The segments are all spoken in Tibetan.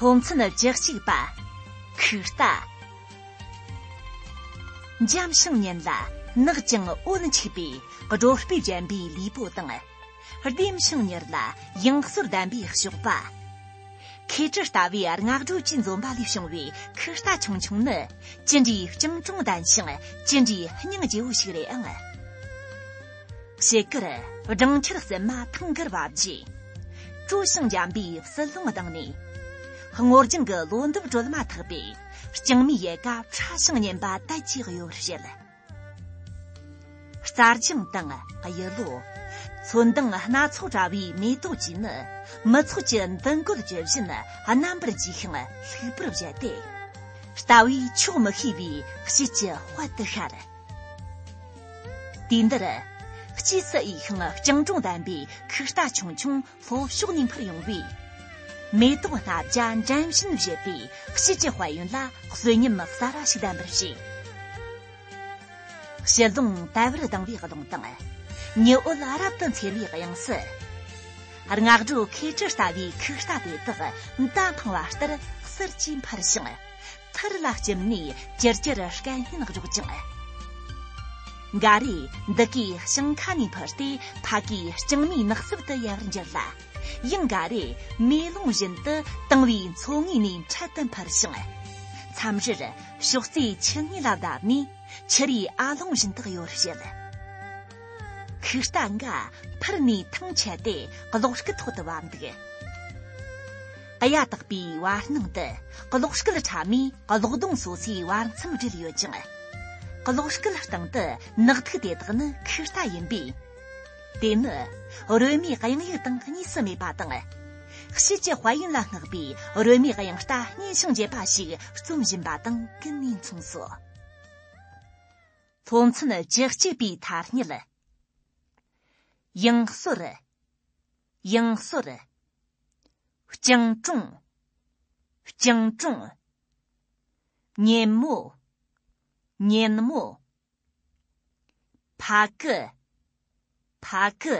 ཕོ་མཚན་རྒྱག་གཅིག་པ་ཁུག་རྟ་འཇམ་ཞིང་ཉེན་ལ་ནག་ཅིང་འོད་འཁྱིལ་པའི་སྒྲོ་སྤུས་ལྗན་པའི་ལུས་པོ་དང་ལྡེམ་ཞིང་མྱུར་ལ་ཡང་ཟོར་ལྡན་པའི་གཤོག་པ། ཁོས་ཇི་ལྟ་བའི་སྔགས་སྒྲོག་ཅིང་འཛུམ་པ་ལས་བྱུང་བའི་ཁུ་རྟ་ཆུང་ཆུང་ནི་ཅི་འདྲའི་སྤྱང་གྲུང་ལྡན་ཞིང་ཅི་འདྲའི་སྙིང་རྗེ་བོ་ཞིག་རེད་ཨང། བྱེད་དཀར་སྦྲང་ཆར་གསེབ་མ་ཐང་གར་བབས་རྗེས། སྤྲོ་ཞིང་འཇམ་པའི་བསིལ་རླུང་ལྡང་ནས། སྔོ་ལྗང་གི་ལོ་འདབ་དཀྲོལ་མ་ཐག་པའི་རྐྱང་མའི་ཡལ་ག་ཕྲ་ཞིང་མཉེན་པ་དལ་གྱིས་གཡོ་བར་བྱེད། རྩ་རྒྱང་དང་གཡུ་ལོ། ཚོན་མདངས་སྣ་ཚོགས་བཀྲ་བའི་མེ་ཏོག་བཅས་ནི་མི་ཚོགས་ཀྱི་མདུན་བཀོད་ཇི་བཞིན་རྣམ་པར་རྒྱས་ཤིང་ལྷུག་པར་བཞད་དེ། ལྟ་བས་ཆོག་མི་ཤེས་པའི་དཔྱིད་ཀྱི་དཔལ་དུ་ཤར། དུས་འདིར། དཔྱིད་སུ་འོས་ཤིང་སྤྱང་གྲུང་ལྡན་པའི་ཁུག་རྟ་ཆུང་ཆུང་ལྷོ་ཕྱོགས་ནས་འཕུར་ཡོང་བའི་མེ་ཏོག་སྣ་བརྒྱ་འགྲན་བཞིན་བཞད་པའི་དཔྱིད་ཀྱི་དཔལ་ཡོན་ལ་གསོན་ཉམས་གསར་བ་ཞིག་ལྡན་པར་བྱས། དཔྱིད་རླུང་དལ་བུར་ལྡང་བའི་ཀློང་དང། ཉི་འོད་རབ་ཏུ་འཚེར་བའི་དབྱངས་སུ། རྔ་སྒྲོག་མཁས་གྲུ་ལྟ་བུའི་ཁུག་རྟ་དེ་དག་མདའ་འཕང་བ་ལྟར་གསེར་གྱིས་འཕར་ཞིང། ཐར་ལ་སྐྱེམས་ནས་ཅིར་ཅིར་དཀའ་སྙན་རོགས་ཀྱང། འགའ་རེས་འདི་གའི་ཞིང་ཁ་ནས་འཕུར་ཏེ་ཕ་གིའི་ལྕང་མའི་ནགས་གསེབ་ཏུ་ཡལ་བར་འགྱུར་ལ། ཡང་འགའ་རེས་མེ་ལོང་བཞིན་དུ་དང་བའི་མཚོ་ངོས་ནས་འཕྲེད་དུ་འཕུར་ཞིང། མཚམས་རེར་ཕྱོགས་རྩེ་ཆུ་ངོས་ལ་བརྡབས་ནས་ཆུ་རའི་ཨ་ལོང་བཞིན་དུ་གཡོ་རུ་བྱེད། ཁུག་རྟ་འགའ་འཕུར་ནས་ཐང་ཆད་དེ་གློག་སྐུད་ཐོག་ཏུ་བབས་འདུག། གཡའ་དག་པའི་བར་སྣང་དུ་གློག་སྐུད་ཕྲ་མོས་གློག་སྡོང་སོ་སོའི་བར་མཚམས་བསྒྲིལ་ཡོད་ཅིང། གློག་སྐུད་སྟེང་དུ་ནག་ཐིག་དེ་དག་ནི་ཁུ་རྟ་ཡིན་པས། དེ་ནི་རོལ་མོའི་དབྱངས་ཡིག་དང་གཉིས་སུ་མེད་པ་དང། དཔྱིད་ཀྱི་དཔལ་ཡོན་ལ་བསྔགས་པའི་རོལ་མོའི་དབྱངས་རྟ་སྙན་ཞིང་འཇེབས་པ་ཞིག་རྩོམ་བཞིན་པ་དང་ཀུན་ནས་མཚུངས་སོ། སློབ་ཚན་བཅུ་གཅིག་པའི་ཐ་སྙད། དབྱངས་གསོར། དབྱངས་གསོར། སྤྱང་གྲུང། སྤྱང་གྲུང། གཉེན་མོ། གཉེན་མོ། ཕ་གི། ཕ་གི།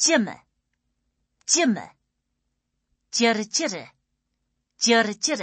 ཅི་མི། ཅི་མི། ཅིར་ཅིར། ཅིར་ཅིར།